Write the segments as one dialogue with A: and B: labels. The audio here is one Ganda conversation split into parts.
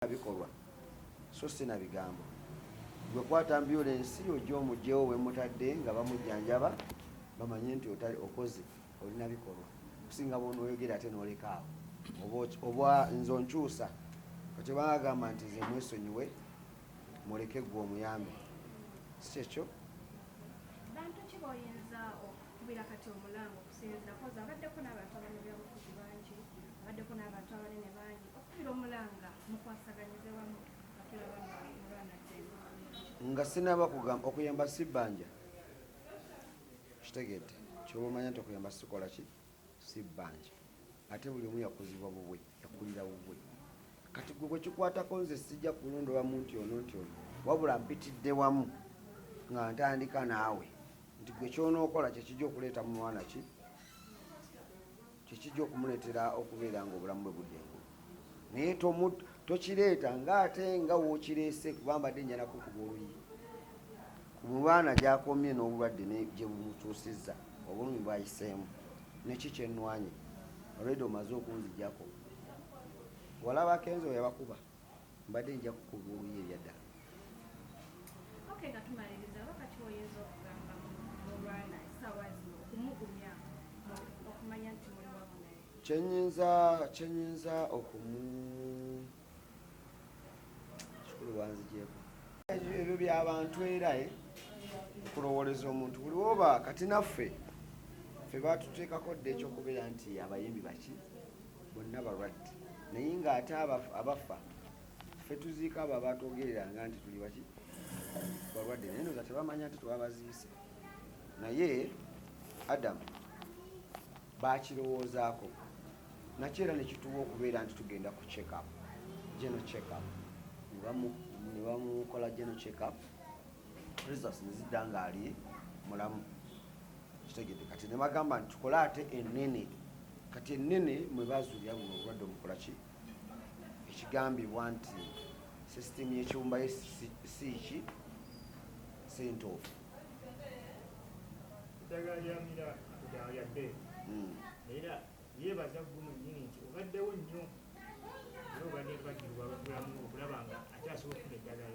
A: na bikolwa so si na bigambo gwe kwata ambulensi ojja omugyewo wemutadde nga bamujjanjaba bamanye nti okoze olina bikolwa okusinga bwonoyogera ate nolekaawo oba nze onkyusa kati bagamba nti nze mwesonyiwe muleke gwe omuyambe si kyekyo bantu ki boyinza okukubira kati omulango okusinzira kozi abaddeko
B: n'abantu abanyabyabufuzi bangi abaddeko n'abantu abanene bangi
A: nga sinaba kugamba okuyamba si bbanja kitegedde kyoba omanya nti okuyamba sikola ki si bbanja ate buli omu yakuzibwa bubwe yakulira bubwe kati gwe bwekikwatako nze sijja kulondola munti ono nti ono wabula mpitidde wamu nga ntandika naawe nti gwe kyonookola kyekijja okuleeta mu mwana ki kyekijja okumuleetera okubeera nga obulamu bwe budde engulu naye tokireeta nga ate nga wokireese kuba mbadde njana kukuba oluyi ku mulwana gyakomye n'obulwadde gye bumutuusizza obulumi bwayiseemu neki kyenwanye olwedde omaze okunzijako walaba kenzo yabakuba mbadde nja kukuba oluyi ebyadda okay nga
B: tumaliriza oba kati oyinza okugamba mulwana essaawa zino okumugumya okumanya nti muli wamu naye kyenyinza
A: kyenyinza okumu kikulu wanzigyeko ebyo byabantu era eh? okulowooleza omuntu buli woba kati naffe fe batuteekako dda ekyokubeera nti abayimbi baki bonna balwadde naye ng'ate abafa ffe tuziika abo abatwogereranga nti tuli baki balwadde naye noza tebamanya nti twabaziise naye adamu bakirowoozaako nakyo era nekituwa okubeera nti tugenda ku checkup geno checkup nebamukola geno checkup results ne zidda ng'ali mulamu kitegede kati ne bagamba nti tukole ate ennene kati ennene mwe bazuulira buno obulwadde omukola ki ekigambibwa nti sisitimu y'ekiwumbayo si ki si ntuufu eddagala lya
C: mira eddagala lya bbeeyi hmm. era yeebaza gumu nnyini nti obaddewo nnyo era obadde mpagirwa abatulamu okulaba nga akyasobola okufuna eddagala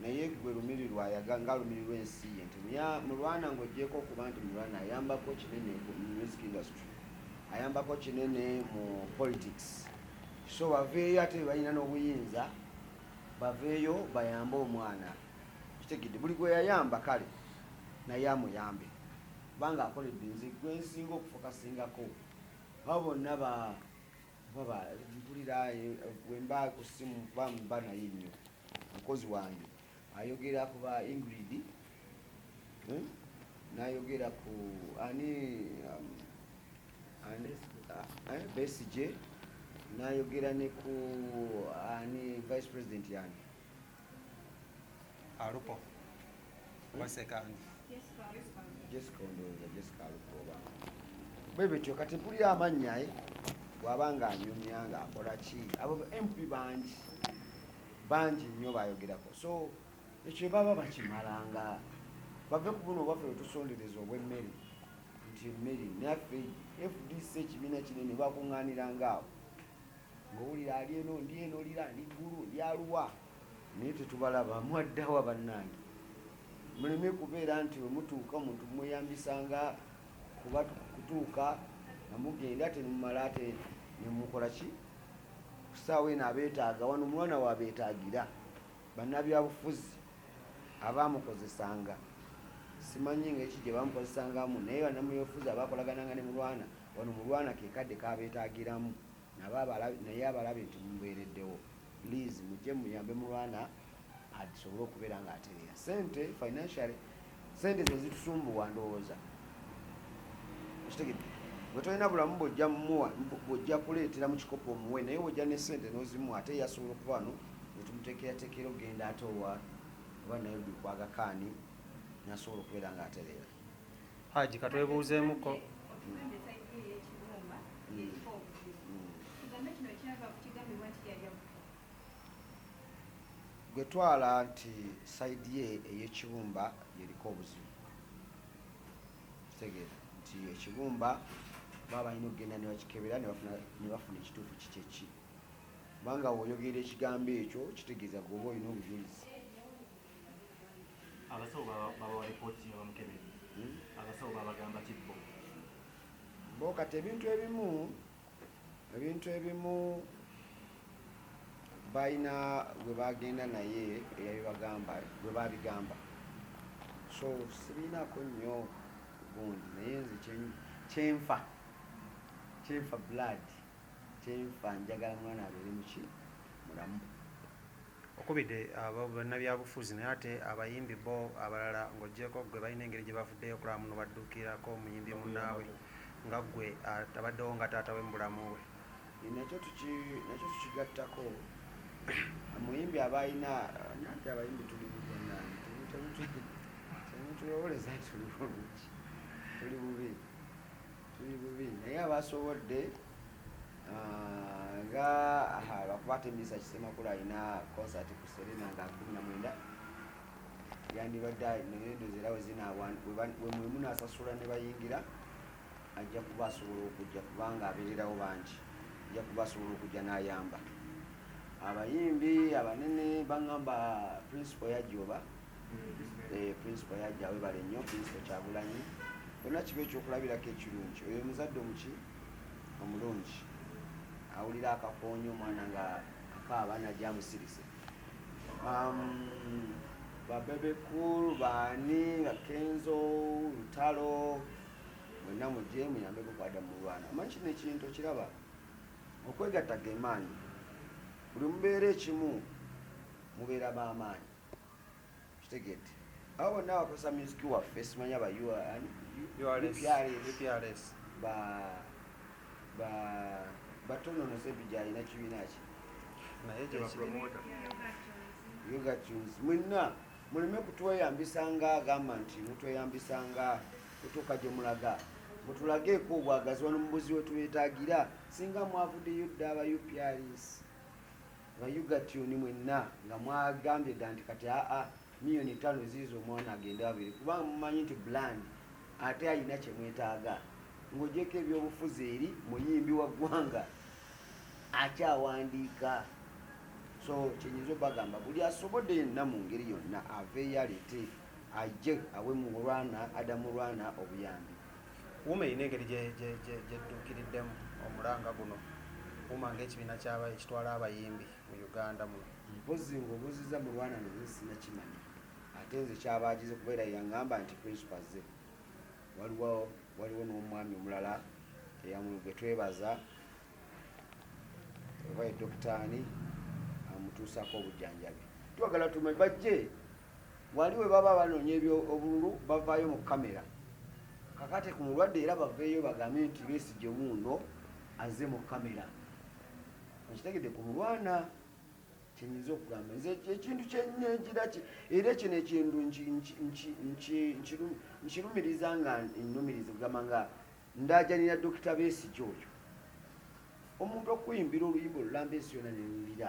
A: naye gwe lumirirwa ayaga nga lumirirwa ensi ye nti mulwana ng'ogyeko okuba nti mulwana ayambako kinene mu music industry ayambako kinene mu politics so baveeyo ate bebalina n'obuyinza baveeyo bayambe omwana kitegedde buli gwe yayamba kale naye amuyambe kubanga akoledde nze gwe nsinga okufokasingako abo bonna ba baba mpulira eh, wemba ku ssimu kuba mba naye nnyo Mukozi wange ayogera ku ba Ingrid eh, nayogera ku ani um, ani uh, eh, Besigye nayogera ne ku ani vice president yani
D: Alupo.
A: bwebityo kati mpulira amannya eh? bwaba nga anyumya nga akola ki abo mp bangi bangi nnyo bayogerako so ekyo baba bakimala nga bave ku buno obwaffe wetusondereza obwemmere nti emmere naffe fdc ekibiina kinene bakuŋŋaanirangaawo ng'owulira ali eno ndi eno lira ndi ggulu ndi aluwa naye tetubalaba mwaddawa bannange muleme kubeera nti wemutuuka omuntu mumweyambisanga kuba kutuuka namugenda ate nemumala ate nemukola ki kusaawa eno abeetaaga wano omwana wabeetaagira bannabyabufuzi abaamukozesanga simanyi nga eki gye bamukozesangamu naye banamubyobufuzi abakolagananga ne mulwana wano mulwana kekadde kabeetagiramu naye abalabe nti mubeereddewo please mujje muyambe mulwana asobole okubeera nga atereera sente financial sente zezitusumbuwa ndowooza okitegedde bwe tolina bulamu bwojja muwa bwojja kuleetera mu kikopo omuwe naye wojja ne sente nozimu ate yasobola okuba wano netumuteekerateekera okugenda ate owa oba naye bikwagakaani nasobola okubeera nga atereera Haji
D: katwebuuzeemuko
A: gwe twala nti saidi ye eyekibumba yeriko obuzibu kitegeera nti ekibumba baba balina okugenda nebakikebera nebafuna ekituufu kikyeki kubanga woyogera ekigambo ekyo kitegeeza gwoba olina obujulizi
C: abasawo babawa lipooti nga bamukebere hmm? abasawo babagamba kibbo
A: bo kati ebintu ebimu ebintu ebimu balina gwe bagenda naye eyabibagamba gwe babigamba so sibiinako nnyo gundi naye nze kyenfa kyenfa blood kyenfa njagala mwana abeere muki mulamu
D: okubidde bannabyabufuzi naye ate abayimbi bo abalala ng'ogyeko gwe balina engeri gye bavuddeyo okulaba muno baddukirako omuyimbi munnaabwe nga gwe atabaddewo nga taata we mu bulamu bwe
A: nakyo tukigattako omuyimbi aba alina nanti abayimbi tuli temutulowoleza nti tuli bulungi tuli bubi tuli bubi naye abasobodde Ah, nga lwakuba ate misa kisemakulu alina concert ku serena nga kumi na mwenda yandibadde nendozi era wezinawemunaasasula ne bayingira ajja kuba asobola okujja kubanga abeererawo bangi ajja kuba asobola okujja n'ayamba abayimbi abanene baŋamba principal yajja oba eh, principal yajja webale nnyo principal kyagulanyi olina kiba ekyokulabirako ekirungi oyo omuzadde omuki omulungi awulira akakoonyo omwana nga akaaba najja amusirise um, babebekulu baani nga kenzo lutalo mwena muje muyambe kukwada mulwana amanyi kino ekintu kiraba okwegatta gemaanyi buli mubeera ekimu mubeera bamaanyi kitegedde abo bonna bakozesa music waffe simanya ba urns batononosa ebija alina kibiina ki
D: yogatunes
A: mwenna muleme kutweyambisa nga agamba nti mutweyambisa nga kutuuka gye mulaga mutulageeko obwagazi wano mubuzi wetwetagira singa mwavuddeyo dda aba uprs nga yugatuni mwenna nga mwagambye dda nti kati aa miyoni ttaano eziiza omwana agende abiri kubanga mumanyi nti bland ate alina kye mwetaaga ng'ogyeko ebyobufuzi eri muyimbi wa ggwanga akyawandiika so kyenyinza obagamba buli asobodde yenna mu ngeri yonna aveeyo aleete ajje awe mulwana adamu lwana obuyambi Wuma erina
D: engeri gyedduukiriddemu omulanga guno Wuma ng'ekibiina ekitwala abayimbi mu Uganda muno. Mpozzi ng'obuuzizza
A: mulwana naye sinakimanya ate nze kyaba agize kuba era yangamba nti principal azze waliwo waliwo n'omwami omulala gwe twebaza oba ye dokitaani amutuusaako obujjanjabi twagala tumanyi bajje Wali we baba banoonya eby'obululu bavaayo mu kkamera kakate ku mulwadde era baveeyo bagambe nti Besigye wuuno azze mu kkamera. Okitegedde ku mulwana kye nnyinza okugamba nze ekintu kye nnengira era kino ekintu nkirumiriza nga nnumiriza okugamba nga ndaajanira Dokita Besigye oyo omuntu okuyimbira oluyimba olulamba ensi yona newulira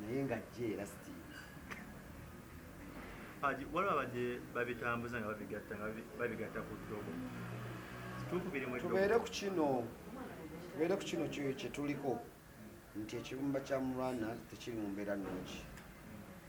A: naye nga jje era sitiimu
C: waliwo abadde babitambuza nga babigatta nga babigatta ku ddogo
A: tubeere ku kino tubeere ku kino kyetuliko nti ekibumba kya mulwana tekiri mu mbeera nungi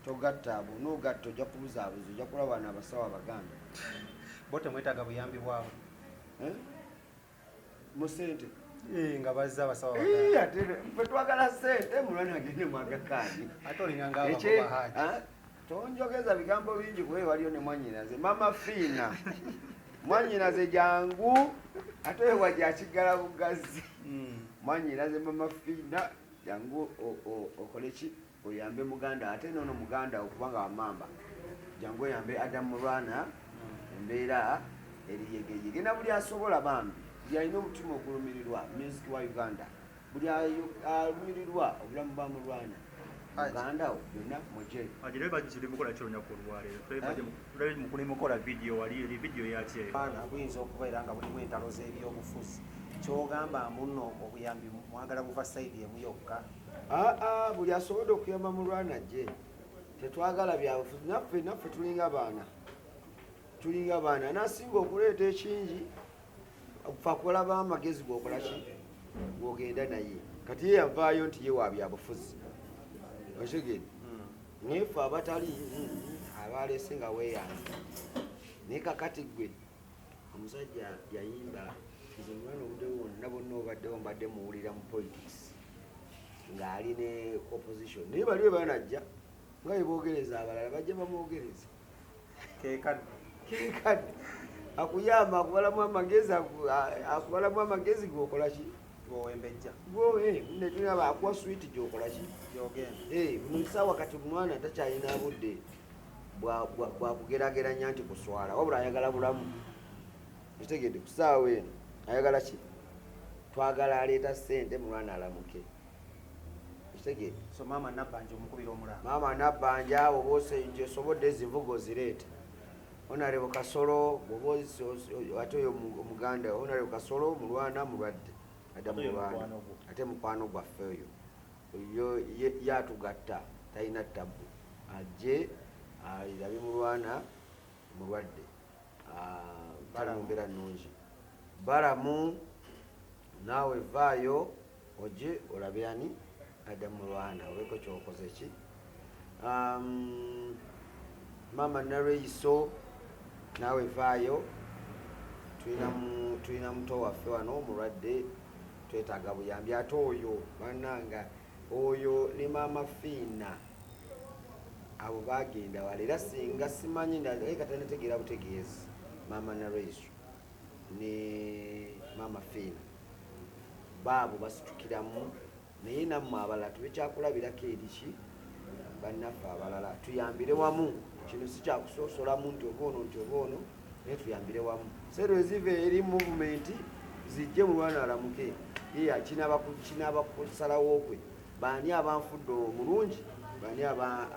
A: togatta abo nogatta ojja kubuzaabuza ojja kulaba na abasawo abaganda bo
D: temwetaaga buyambi bwabo eh?
A: mu sente eh, nga bazza
D: abasawa ate fe
A: twagala sente mulwana agende mwagakaani ate olinganga
D: abakobahaji tonjogeza
A: bigambo bingi kuba waliyo ne mwanyinaze mama fiina mwanyinaze jangu ate ewa gyakiggala bugazi hmm. mwanyinaze mama fiina jangu okoleki oyambe muganda ate nono muganda okubanga wamamba jangu oyambe adam mulwana embeera eriyegeyege na buli asobola bambi buli alina omutima ogulumirirwa music wa uganda buli alumirirwa obulamu bwa mulwana mugandawo
E: byonna mujemukola eh? vidiyo wali eri vidiyo yakyeana buyinza okuba
D: era nga bulimu entalo z'ebyobufuzi kyogamba muno obuyambi mwagala buva sayidi emu yokka aa buli
A: asobodde okuyamba mulwana gye tetwagala byabufuzi naffe naffe tulinga baana tulinga baana nasinga okuleeta ekingi fakulaba amagezi gokolaki gwogenda naye kati ye yavaayo nti ye wa byabufuzi otegede hmm. naye fe abatali hmm, abaleese nga weyanza naye kakati gwe omusajja yayimba nze mwana obudde bwonna bonna obaddewo mbadde muwulira mu politics ng'ali ne opposition naye bali we banajja nga beboogereza abalala bajja bamwogereza kekadde kekadde akuyamba akubalamu amagezi akubalamu amagezi gwokola ki gwowembejja
D: gwowe eh, netunaba
A: akuwa switi gyokola ki gyogendamukisawa eh, kati omwana takyalina budde bwakugerageranya nti kuswala wabula ayagala bulamu ekitegedde ku saawa eno ayagala ki twagala aleeta sente mulwana alamuke ekitegedde so maama
D: nabanja omukubira omulaa maama nabanja
A: awo bosenje osobodde ezivuga ozireete onarebo kasolo bwoba ate oyo omuganda onarebo kasolo mulwana mulwadde adda mulwana ate mukwano gwaffe oyo Yo ye yatugatta talina tabbu ajje alira bimulwana mulwadde balamumbera nungi balamu naawe vaayo oje olabe ani adda mulwana oleko kyokoze ki Um, mama Nareiso naawe vaayo, tulina muto waffe wano omulwadde, twetaaga buyambi ate oyo bananga oyo ne maama Fiina abo bagenda wala era singa simanyi katanategeera butegeezi maama Nareiso ne maama Fiina baabo basitukiramu Naye nammwe abalala tube kyakulabirako eri ki bannaffe abalala, tuyambire wamu. Kino si kyakusosolamu nti oba ono nti oba ono, naye tuyambire wamu. Sente eziva eri muvumenti zijje mu lwana alamuke iya kinaaba kusalawo kwe baani abanfudde omulungi baani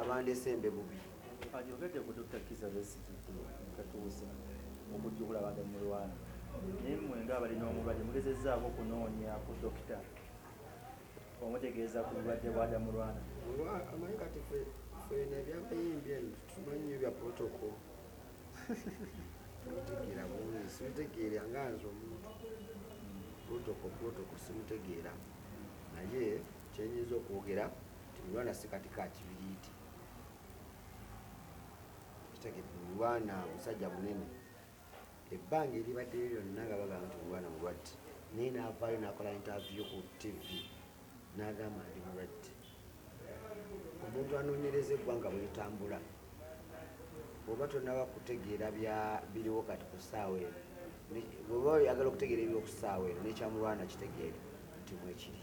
A: abandese embe bubi ayogedde ku
E: dr kiza besigi katuusa okujjukula abantu mu lwana naye mwe nga abalina omubadde mugezezaako okunoonya ku dokita omutegeeza ku bulwadde bwa damulwana amanyi kati
A: fena ebyabayimbi eno tumanyi nyo bya protoko mutegeera bulungi simutegeera nga nze omuntu protoko protoko simutegeera naye kyenyinza okwogera timulwana sikati ka kibiriiti kitegedde mulwana musajja munene ebbanga eribaddeyo lyonna nga bagamba nti omwana mulwadde naye n'avaayo n'akola intavyu ku tv n'agamba ndi mulwadde omuntu anoonyereza eggwanga bwelitambula oba tonaba kutegeera biriwo kati ku ssaawa eno oba oyagala okutegeera ebiriwo ku ssaawa eno nekyamulwana kitegeere nti mwekiri